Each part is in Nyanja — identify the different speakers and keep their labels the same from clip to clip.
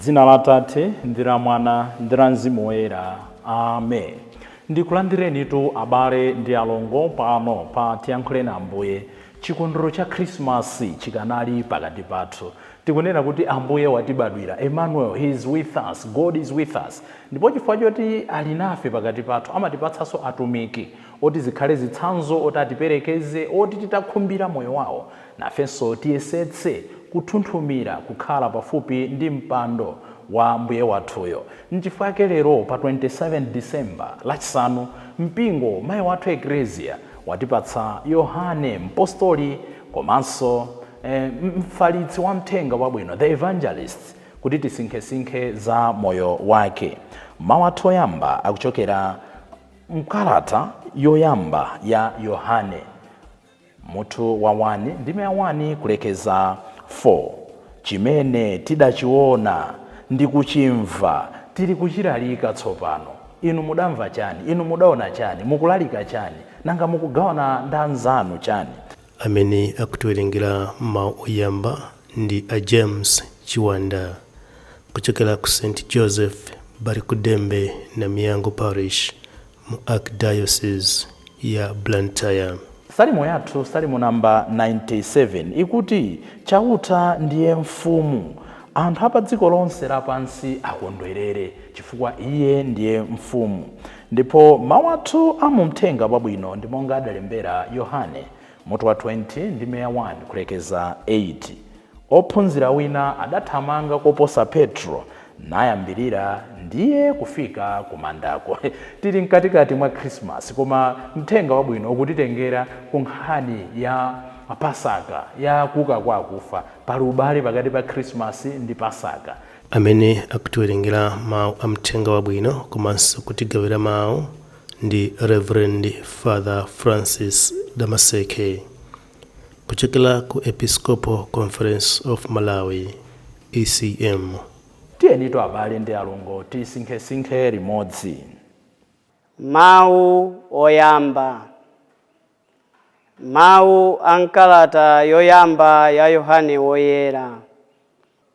Speaker 1: dzina la atate ndi la mwana ndi la mzimu woyera amen ndikulandirenitu abale ndi alongo pano pa tiyankhuleni ambuye chikondwerero cha khrisimasi chikanali pakati pathu tikunena kuti ambuye watibadwira emmanuel he is with us god is with us ndipo chifukwa choti ali nafe pakati pathu amatipatsanso atumiki oti zikhale zitsanzo, oti atiperekeze, oti titakhumbira moyo wawo, nafenso tiyesetse kuthunthumira kukhala pafupi ndi mpando wa Mbuye wathuyo. Nchifukwa chake lero pa 27 December, Lachisanu, Mpingo, Mayi Wathu Eklezia, watipatsa Yohane, Mpostoli komanso Mfalitsi Wamthenga Wabwino, The Evangelist, kuti tisinkhesinkhe za moyo wake. Mau athu oyamba akuchokera. M'kalata yoyamba ya Yohane, mutu wa 1, ndime ya 1 kulekeza 4, Cimene tidaciona ndi kucimva tirikucilalika tsopano, inu mudamva cani? Inu mudaona cani? Mukulalika cani? Nanga mukugawana ndi anzanu cani?
Speaker 2: Amene akutiwerengera mau oyamba ndi a James Chiwanda kuchokera ku St Joseph Balikudembe Namiyango Parish mu Archdiocese ya Blantyre. Salimo
Speaker 1: yathu, Salimo number 97, ikuti, Chauta ndiye Mfumu. Anthu a pa dziko lonse lapansi akondwerere, chifukwa Iye ndiye Mfumu. Ndipo mawu athu a mu Mthenga Wabwino ndi monga adalembera Yohane, mutu wa 20, ndime ya 1 kulekeza 8, Ophunzira wina adathamanga koposa Petro, nayambirira ndiye kufika kumandako. Tiri mkatikati mwa Khrismasi, koma Mthenga Wabwino ukutitengera ku nkhani ya Pasaka, ya kuuka kwa akufa. Pali ubale pakati pa Khrismasi ndi Pasaka. Amene
Speaker 2: akutiwerengera mau a Mthenga Wabwino komanso kutigawira mau ndi Rev. Father Francis Damaseke kuchokera ku Episcopal Conference of Malawi, ECM. Tiyenitu
Speaker 1: abale ndi alongo tisinkhesinkhe limodzi. Mawu
Speaker 3: Oyamba Mawu a m'kalata yoyamba ya Yohane Woyera.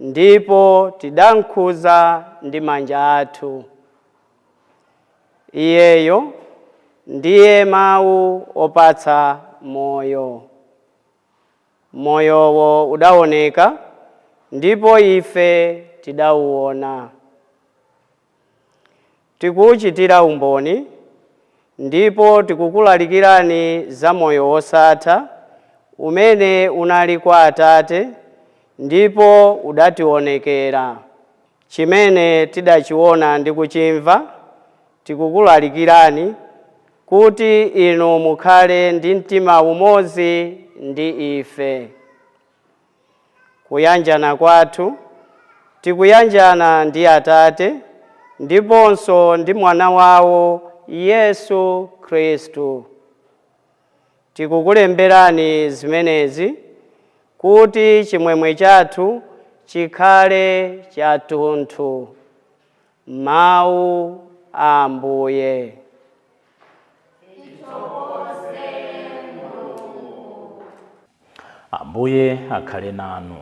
Speaker 3: Ndipo tidamkhudza ndi manja athu Iyeyo, ndiye Mawu opatsa Moyo. Moyowo udawoneka, ndipo ife tidauwona. tikuuchitira umboni, ndipo tikukulalikirani za moyo wosatha, umene unali kwa Atate, ndipo udatiwonekera. Chimene tidachiwona ndi kuchimva, tikukulalikirani, kuti inu mukhale ndi mtima umodzi ndi ife. Kuyanjana kwathu, Tikuyanjana ndi Atate ndiponso ndi Mwana wawo Yesu Kristu. Tikukulemberani zimenezi kuti chimwemwe chathu chikhale chathunthu. Mawu a
Speaker 1: Ambuye. Ambuye akhale nanu.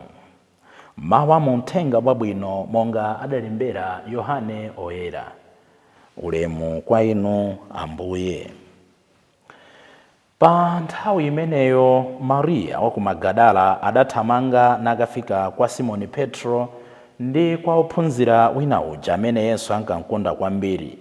Speaker 1: Mawu a mu Mthenga Wabwino monga adalembera Yohane Oyera. Ulemu kwa Inu Ambuye. Pa nthawi imeneyo Mariya wa ku Magadala adathamanga nakafika kwa Simoni Petro ndi kwa ophunzira wina uja amene Yesu ankamkonda kwambiri.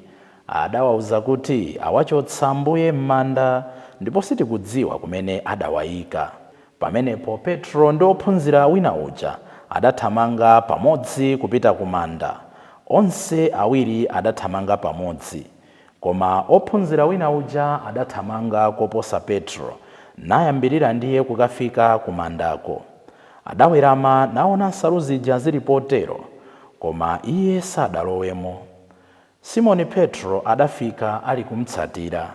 Speaker 1: Adawauza kuti, Awachotsa Ambuye m'manda, ndipo sitikudziwa kumene adawaika. Pamenepo Petro ndi ophunzira wina uja adathamanga pamodzi kupita ku manda. Onse awiri adathamanga pamodzi. Koma ophunzira wina uja adathamanga koposa Petro, nayambirira ndiye kukafika kumandako. Adawerama naona nsalu zija zili potero, koma iye sadalowemo. Simoni Petro adafika ali kumtsatira.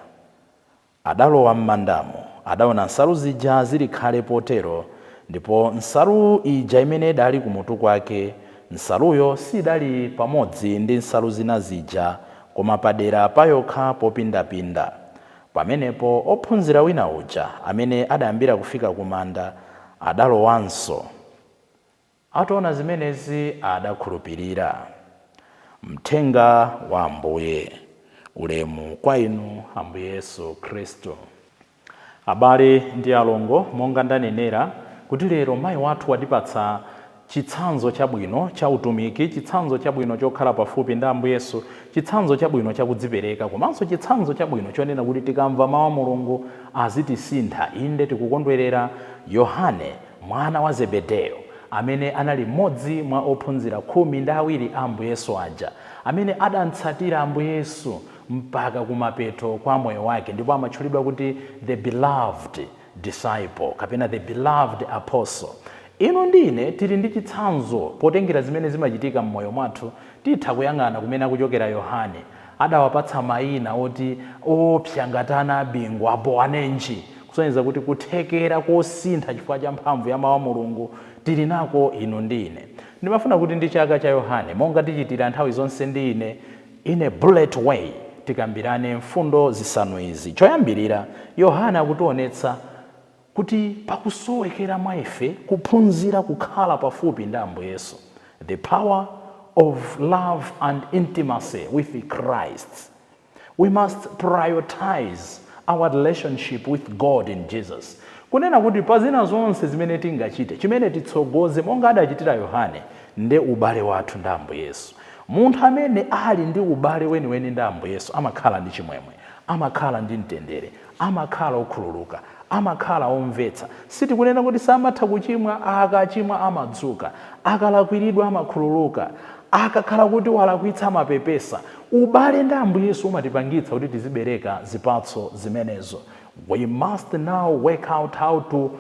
Speaker 1: Adalowa m'mandamo, adaona nsalu zija zili khale potero, ndipo nsalu ija imene idali kumutu kwake, nsaluyo sidali pamodzi ndi nsalu zina zija, koma padera payokha popindapinda. Pamenepo ophunzira wina uja, amene adayambira kufika kumanda, adalowanso. Ataona zimenezi adakhulupirira. Mthenga wa Ambuye. Ulemu kwa Inu Ambuye Yesu Khristu. Abale ndi alongo, monga ndanenera, kuti lero mayi wathu watipatsa chitsanzo chabwino cha utumiki, chitsanzo chabwino chokhala pafupi ndi Ambuye Yesu, chitsanzo chabwino chakudzipereka, komanso chitsanzo chabwino chonena kuti tikamva mawu a Mulungu azitisintha. Inde, tikukondwerera Yohane mwana wa Zebedeyo, amene anali mmodzi mwa ophunzira khumi ndi awiri a Ambuye Yesu aja, amene adamtsatira Ambuye Yesu mpaka kumapeto kwa moyo wake ndipo amatchulidwa kuti The Beloved Disciple kapena The Beloved Apostle. Inu ndi ine tili ndi chitsanzo potengera zimene zimachitika mmoyo mwathu, titha kuyang'ana kumene akuchokera Yohane, Adawapatsa maina oti oopsa ngati ana a bingu, a Boanenji, kusonyeza kuti kuthekera kosintha chifukwa cha mphamvu ya Mawu a Mulungu tili nako inu ndi ine. Ndimafuna kuti ndi chaka cha Yohane, monga tichitira nthawi zonse ndi ine, in a bullet way, tikambirane mfundo zisanu izi. Choyambirira, Yohane akutionetsa kuti pakusowekera mwa ife kuphunzira kukhala pafupi ndi Ambuye Yesu, the power of love and intimacy with Christ. We must prioritize our relationship with God in Jesus. Kunena kuti pa zina zonse zimene tingachite, chimene titsogoze monga adachitira Yohane, nde ubale wathu ndi Ambuye Yesu. Munthu amene ali ndi ubale weniweni ndi Ambuye Yesu amakhala ndi chimwemwe, amakhala ndi mtendere, amakhala okhululuka. Amakhala omvetsa. Sitikunena kuti samatha kuchimwa, akachimwa amadzuka. Akalakwiridwa amakhululuka. Akakhala kuti walakwitsa amapepesa. Ubale ndi Ambuye Yesu umatipangitsa kuti tizibereka zipatso zimenezo. We must now work out how to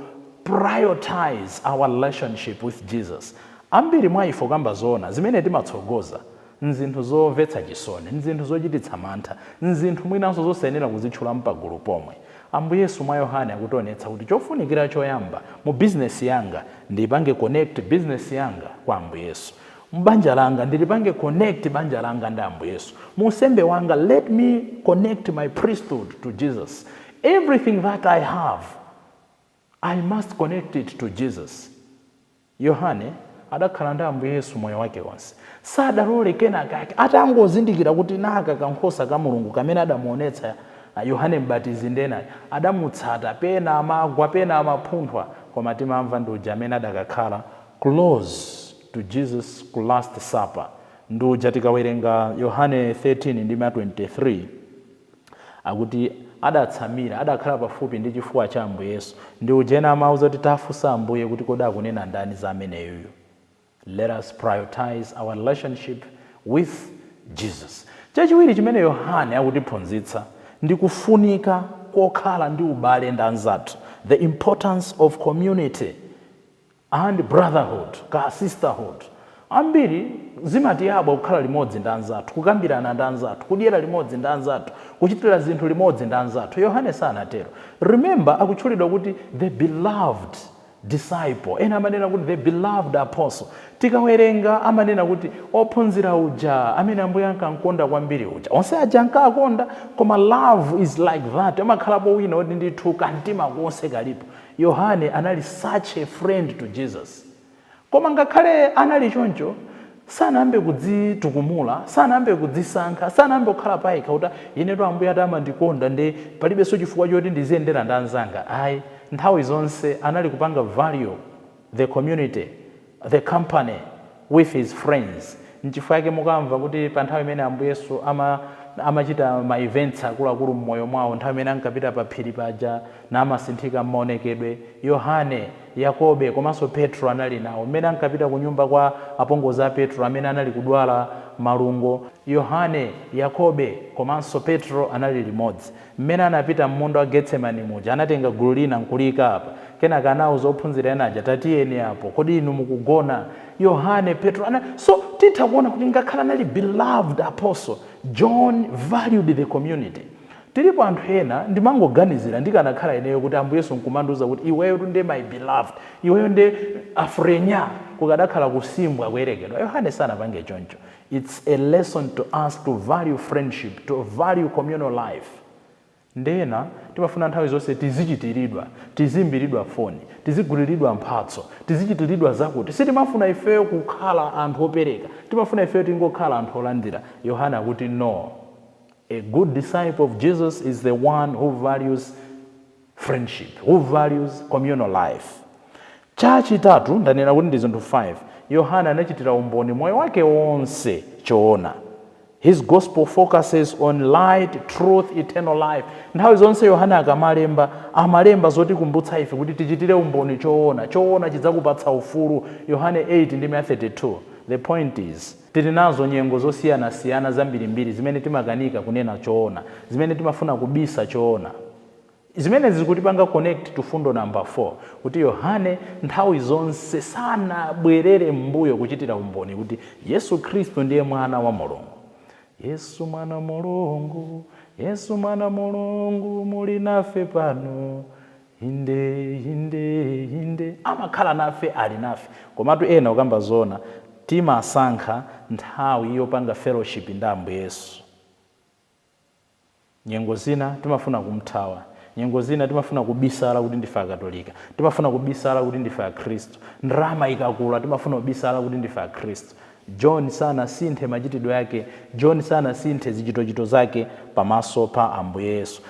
Speaker 1: prioritize our relationship with Jesus. Ambiri mwa ife kukamba zoona, zimene timatsogoza N'zinthu zomvetsa chisoni. N'zinthu zochititsa mantha. N'zinthu mwinanso zosayenera kuzitchula mpagulu pomwe. Ambuye Yesu mwa Yohane akutionetsa kuti chofunikira choyamba mu bizinesi yanga, ndiipange connect bizinesi yanga kwa Ambuye Yesu. M'banja langa, ndilipange connect banja langa ndi Ambuye Yesu. Mu unsembe wanga, let me connect my priesthood to Jesus. Everything that I have, I must connect it to Jesus. Yohane adakhala ndi Ambuye Yesu moyo wake wonse. Sadalole kenakake. Atangozindikira kuti naka kankhosa ka Mulungu kamene adamuonetsa Yohane Mbatizi ndi ena, adamutsata. Pena amagwa, pena amaphunthwa, koma timamva ndi uja amene adakakhala close to Jesus ku last supper ndi uja tikawerenga Yohane 13:23, akuti, adatsamira, adakhala pafupi ndi chifuwa cha Ambuye Yesu, ndi uja ena amamuuza kuti tafunsa Ambuye kuti kodi akunena ndani za ameneyuyu? Let us prioritize our relationship with Jesus. Chachiwiri chimene Yohane akutiphunzitsa ndi kufunika kokhala ndi ubale ndi anzathu, the importance of community. and brotherhood ka sisterhood ambiri zimatiyabwa kukhala limodzi ndi anzathu, kukambirana ndi anzathu, kudyera limodzi ndi anzathu, kuchitira zinthu limodzi ndi anzathu. Yohane sanatero. Remember akutchulidwa kuti the beloved disciple, ena amanena kuti the beloved apostle. Tikawerenga amanena kuti ophunzira uja amene Ambuye ankankonda kwambiri uja. Onse aja ankakonda koma love is like that, amakhalapo wina oti ndithu ka mtima konse kalipo. Yohane anali such a friend to Jesus. Koma ngakhale anali choncho, sanayambe kudzitukumula, sanayambe kudzisankha, sanayambe kukhala payekha kuti inetu Ambuye ati amandikonda nde palibenso chifukwa choti ndiziyendera ndi anzanga ayi. Nthawi zonse anali kupanga value. the community, the company, with his friends. Nchifukwa chake mukamva kuti pa nthawi imene Ambuye Yesu amachita ma events akuluakulu m'moyo mwawo, nthawi imene ankapita pa phiri paja namasinthika m'maonekedwe, Yohane, Yakobe komanso Petro anali nawo. M'mene ankapita kunyumba kwa apongozi a Petro amene anali kudwala malungo, Yohane, Yakobe komanso Petro anali limodzi. Mmene anapita m'munda wa Getsemane muja, anatenga gulu lina n'kuliika apa. Kenaka anauza ophunzira ena aja, Tatiyeni apo. Kodi inu mukugona? Yohane, Petro. So, titha kuona kuti ngakhale anali beloved apostle, John valued the community. Tilipo anthu ena, ndimangoganizira, ndikanakhala ineyo kuti Ambuye Yesu n'kumandiuza kuti iweyotu nde my beloved, iweyo nde afrenyaa, kukadakhala kusimbwa, kuyerekedwa. Yohane sanapange choncho. Its a lesson to us to value friendship, to value communal life nde ena timafuna nthawi zonse tizichitiridwa, tiziimbiridwa foni, tiziguliridwa mphatso, tizichitiridwa zakuti. Sitimafuna ifeyo kukhala anthu opereka, timafuna ifeyo tingokhala anthu olandira. Yohane akuti, No. A good disciple of Jesus is the one who values. friendship, who values communal life. Chachitatu, ndanena kuti ndi zinthu 5, Yohane anachitira umboni moyo wake wonse choona. His gospel focuses on light, truth, eternal life. Nthawi zonse Yohane akamalemba, amalemba zotikumbutsa ife kuti tichitire umboni choona. Choona chidzakupatsa ufulu. Yohane 8 ndime ya 32. The point is, tili nazo nyengo zosiyanasiyana zambirimbiri zimene timakanika kunena choona, zimene timafuna kubisa choona. Zimene zikutipanga connect to fundo number 4 kuti Yohane nthawi zonse sanabwerere m'mbuyo kuchitira umboni kuti Yesu Khristu ndiye mwana wa Mulungu. Yesu mwana Mulungu, Yesu mwana Mulungu muli nafe pano. Inde, inde, inde. Amakhala nafe, ali nafe. Komatu ena ukamba zoona timasankha nthawi yopanga fellowship ndi Ambuye Yesu. Nyengo zina timafuna kumthawa. Nyengo zina timafuna kubisala kuti ndife Akatolika. Timafuna kubisala kuti ndife Akhristu. Ndalama ikakula timafuna kubisala kuti ndife Akhristu. John sanasinthe machitidwe yake. John sanasinthe zichitochito zake pamaso pa Ambuye Yesu.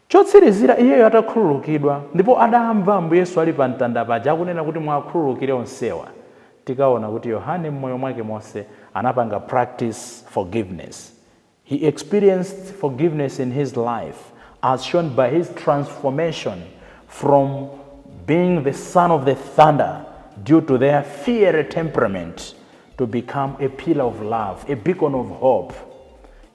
Speaker 1: Chotsirizira, iyeyo atakhululukidwa, ndipo adamva Ambuye Yesu ali pa mtanda paja akunena kuti muwakhululukire onsewa, tikaona kuti Yohane m'moyo mwake monse anapanga practice forgiveness. He experienced forgiveness in his life as shown by his transformation from being the son of the thunder due to their fiery temperament to become a pillar of love, a beacon of hope.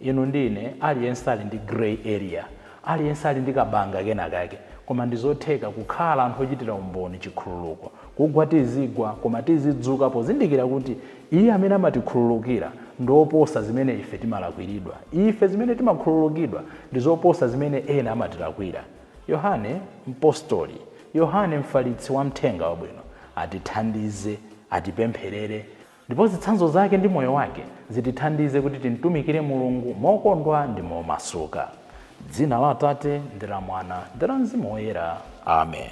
Speaker 1: inu ndine aliyense ali ndi grey area aliyense ali ndi kabanga kena kake koma ndizotheka kukhala anthu ochitira umboni chikhululuko kugwa tizigwa koma tizidzuka pozindikira kuti Iye amene amatikhululukira ndi oposa zimene ife timalakwiridwa. Ife zimene timakhululukidwa ndi zoposa zimene ena amatilakwira. Yohane, mpostoli, Yohane, mfalitsi wa Mthenga Wabwino, atithandize, atipempherere, ndipo zitsanzo zake ndi moyo wake zitithandize kuti timtumikire Mulungu mokondwa ndi momasuka. M'dzina la Atate, ndi la Mwana, ndi la Mzimu Woyera. Ame.